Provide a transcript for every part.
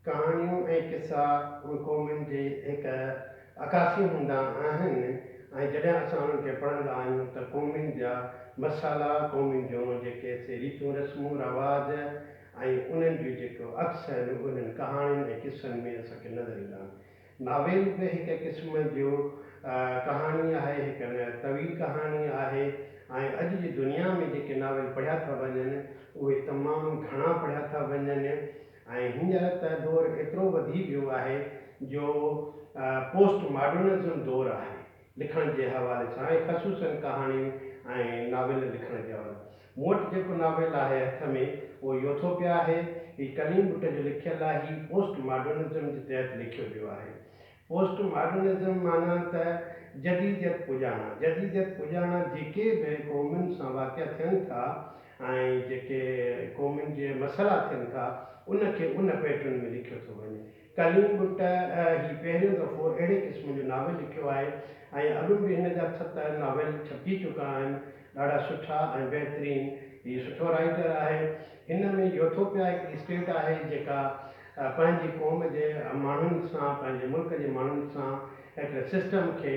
ڪهاڻيون ۽ قصا ان قومن جي هڪ عڪاسي هوندا آهن ۽ جڏهن اسان انهن کي پڙهندا آهيون ته قومن جا مسئلا، قومن جون جيڪي سي ريتون رسمون رواج ۽ انهن جون جيڪو عڪس آهن اهي انهن ڪهاڻين ۽ قصن ۾ اسان کي نظر ايندا آهن. ناول به هڪ قسم جو ڪهاڻي آهي، هڪ طويل ڪهاڻي آهي ۽ اڄ جي دنيا ۾ جيڪي ناول پڙهيا ٿا وڃن، اهي تمام گهڻا پڙهيا ٿا وڃن ۽ هينئر ته دور ايترو وڌي ويو آهي جو پوسٽ ماڊرنزم دور آهي، لکڻ جي حوالي سان ۽ خصوصاً ڪهاڻين ۽ ناول لکڻ جي حوالي سان. مون وٽ جيڪو ناول آهي هٿ ۾ اهو يوٿوپيا آهي. هي ڪليم بٽ جو لکيل آهي. هي پوسٽ ماڊرنزم جي تحت لکيو ويو آهي. پوسٽ ماڊرنزم معنيٰ ته جديديت پڄاڻا. جديديت پڄاڻا جيڪي به قومن سان واقعا ٿين ٿا ۽ جيڪي قومن جي مسئلا ٿين ٿا ان کي ان پيٽرن ۾ لکيو ٿو وڃي. ڪليم بٽ هي پهريون دفعو اهڙي قسم جو ناول لکيو آهي ۽ اڳ به هن جا ست ناول ڇپجي چڪا آهن. ڏاڍا سٺا ۽ بهترين. هي سٺو رائيٽر آهي. هن ۾ يوٿوپيا هڪڙي اسٽيٽ آهي جيڪا پنهنجي قوم جي ماڻهن سان پنهنجي ملڪ جي ماڻهن سان هڪڙي سسٽم کي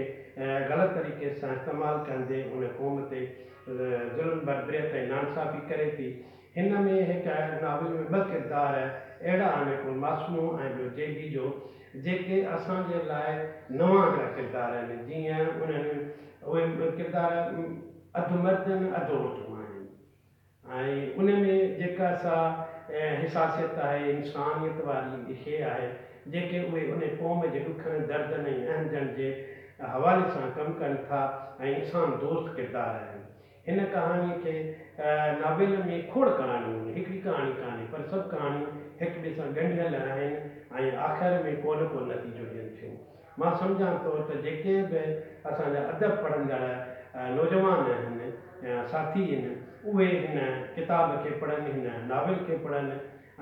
غلط طريقي سان استعمال ڪندي ان قوم تي ظلم بربريت ۽ نانصافي ڪري ٿي. هن ۾ هڪ ناول ۾ ٻه ڪردار اهڙا آهن هڪڙو معصومو ۽ ٻيو جيگي جو جيڪي اسان جي لاء نوان هڪڙا ڪردار آهن جيئن انهن اهي ڪردار اڌ مرد ۽ اڌ عورتون آهن ۽ ان ۾ جيڪا سا حساسيت آهي انسانيت واري شيء آهي جيڪي اهي ان قوم جي ڏکن دردن ۽ اهنجن جي حوالي سان ڪم ڪن ٿا ۽ انسان دوست ڪردار آهن هن ڪهاڻيء کي ناولن ۾ کوڙ ڪهاڻيون آهن، هڪڙي ڪهاڻي ڪانهي، پر سڀ ڪهاڻيون هڪ ٻئي سان ڳنڍيل آهن ۽ آخر ۾ ڪو نه ڪو نتيجو ڏين ٿيون. مان سمجهان ٿو ته جيڪي به اسان جا ادب پڙهندڙ نوجوان آهن يا ساٿي ان اهي هن ڪتاب کي پڙهن، هن ناول کي پڙهن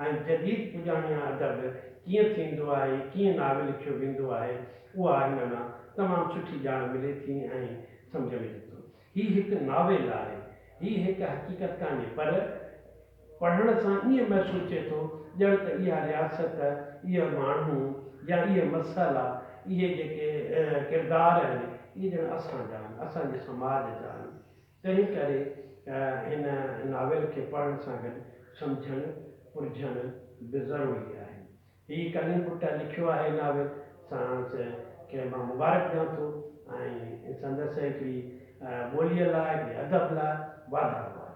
۽ جديد پڄاڻيان ادب ڪيئن ٿيندو آهي، ڪيئن ناول لکيو ويندو آهي، اها هن مان تمام سٺي ڄاڻ ملي ٿي ۽ سمجهه ملي ٿو. هي هڪ ناول آهي. هي هڪ حقيقت ڪانهي پر پڙهڻ سان ائين محسوس ٿئي ٿو ڄڻ ته اها رياست، اهي ماڻهو يا اهي مسئلا، اهي جيڪي ڪردار آهن اهي ڄڻ اسان جا آهن، اسان جي سماج جا آهن. تنهن ڪري هن ناول کي پڙهڻ سان گڏ سمجهڻ پرجهڻ به ضروري آهي. هي ڪلين پٽ لکيو آهي ناول ساڻس کي مان مبارڪ ڏيان ٿو ۽ سندس هڪڙي ٻوليء لاء هڪڙي ادب لاء واڌارو آهي.